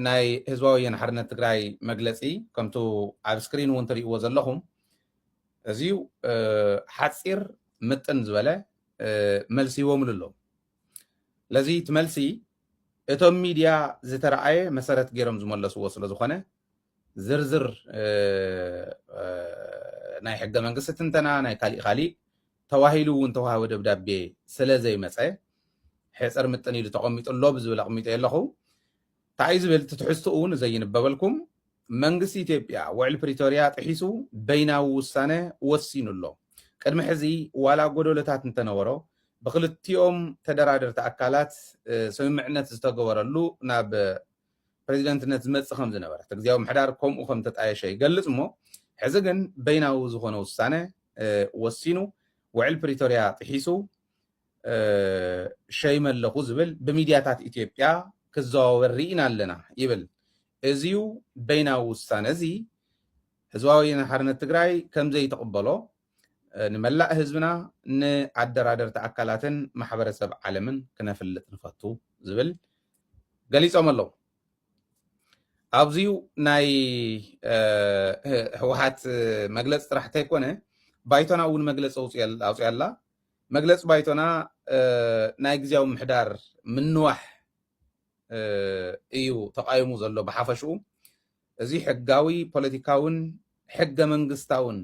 ናይ ህዝባዊ ወያነ ሓርነት ትግራይ መግለፂ ከምቱ ኣብ ስክሪን እውን ትሪእዎ ዘለኹም እዚዩ ሓፂር ምጥን ዝበለ መልሲ ይቦምሉ ኣለዉ ለዚ እቲ መልሲ እቶም ሚድያ ዝተረኣየ መሰረት ገይሮም ዝመለስዎ ስለ ዝኾነ ዝርዝር ናይ ሕገ መንግስቲ ትንተና ናይ ካሊእ ካሊእ ተባሂሉ እውን ተዋህበ ደብዳቤ ስለ ዘይመጸ ሕጽር ምጥን ኢሉ ተቐሚጡ ኣሎ ብዝብል ኣቕሚጠዮ ኣለኹ። ታይ'ዩ ዝብል እቲ ትሕዝትኡ ንዘይንበበልኩም፣ መንግስቲ ኢትዮጵያ ውዕል ፕሪቶርያ ጥሒሱ በይናዊ ውሳነ ወሲኑ ኣሎ። ቅድሚ ሕዚ ዋላ ጎደሎታት እንተነበሮ ብኽልቲኦም ተደራደርቲ ኣካላት ስምምዕነት ዝተገበረሉ ናብ ፕረዚደንትነት ዝመጽእ ከም ዝነበረ፣ እቲ ግዝያዊ ምሕዳር ከምኡ ከም እተጣየሸ ይገልጽ እሞ ሕዚ ግን በይናዊ ዝኾነ ውሳነ ወሲኑ ውዕል ፕሪቶርያ ጥሒሱ ሸይመ ኣለኹ ዝብል ብሚድያታት ኢትዮጵያ ክዘዋወር ርኢና ኣለና ይብል። እዚዩ በይናዊ ውሳነ እዚ ህዝባዊ ወያነ ሓርነት ትግራይ ከምዘይተቕበሎ ንመላእ ህዝብና ንኣደራደርቲ ኣካላትን ማሕበረሰብ ዓለምን ክነፍልጥ ንፈቱ ዝብል ገሊፆም ኣለዉ። ኣብዚዩ ናይ ህወሓት መግለፂ ጥራሕ እንተይኮነ ባይቶና እውን መግለፂ ኣውፅያ ኣላ። መግለፂ ባይቶና ናይ ግዜያዊ ምሕዳር ምንዋሕ እዩ ተቃይሙ ዘሎ ብሓፈሽኡ እዚ ሕጋዊ፣ ፖለቲካውን ሕገ መንግስታውን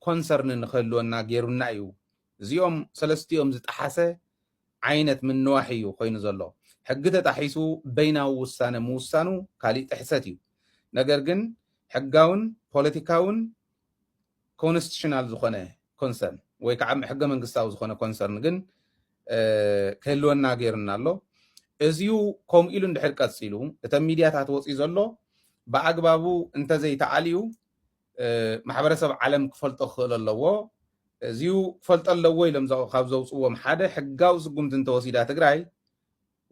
ኮንሰርን ንክህልወና ገይሩና ኢዩ። እዚኦም ሰለስቲኦም ዝጠሓሰ ዓይነት ምንዋሕ ኢዩ ኮይኑ ዘሎ። ሕጊ ተጣሒሱ በይናዊ ውሳነ ምውሳኑ ካሊእ ጥሕሰት ኢዩ። ነገር ግን ሕጋውን ፖለቲካውን ኮንስቲቱሽናል ዝኾነ ኮንሰርን ወይ ከዓ ሕገ መንግስታዊ ዝኾነ ኮንሰርን ግን ክህልወና ገይሩና ኣሎ። እዚዩ ከምኡ ኢሉ እንድሕር ቀፂሉ እተን ሚድያታት ወፅዩ ዘሎ ብኣግባቡ እንተዘይተኣልዩ ማሕበረሰብ ዓለም ክፈልጦ ክኽእል ኣለዎ። እዚዩ ክፈልጦ ኣለዎ ኢሎም ካብ ዘውፅዎም ሓደ ሕጋዊ ስጉምቲ እንተወሲዳ ትግራይ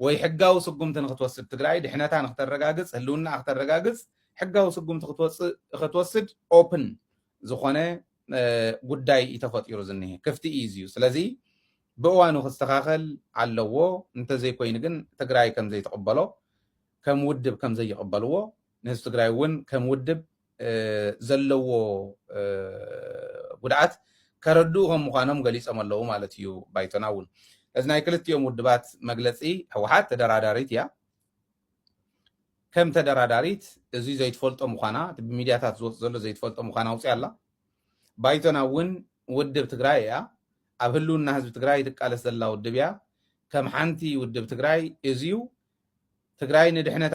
ወይ ሕጋዊ ስጉምቲ ንክትወስድ ትግራይ ድሕነታ ንክተረጋግፅ ህልውናኣ ክተረጋግፅ ሕጋዊ ስጉምቲ ክትወፅእ ክትወስድ open ዝኾነ ጉዳይ እዩ ተፈጢሩ ዝኒሀ ክፍቲ እዩ እዚዩ ስለዚ ብእዋኑ ክስተኻኸል ኣለዎ እንተዘይኮይኑ ግን ትግራይ ከምዘይትቕበሎ ከም ውድብ ከምዘይቕበልዎ ንህዝቢ ትግራይ እውን ከም ውድብ ዘለዎ ጉድኣት ከረድኡ ከም ምዃኖም ገሊፆም ኣለው ማለት እዩ ባይቶና እውን። ስለዚ ናይ ክልቲኦም ውድባት መግለፂ ህወሓት ተደራዳሪት እያ፣ ከም ተደራዳሪት እዚ ዘይትፈልጦ ምዃና እቲ ብሚድያታት ዝወፅ ዘሎ ዘይትፈልጦ ምዃና ኣውፂኣ ኣላ። ባይቶና እውን ውድብ ትግራይ እያ፣ ኣብ ህልውና ህዝቢ ትግራይ ትቃለስ ዘላ ውድብ እያ፣ ከም ሓንቲ ውድብ ትግራይ እዚዩ ትግራይ ንድሕነታ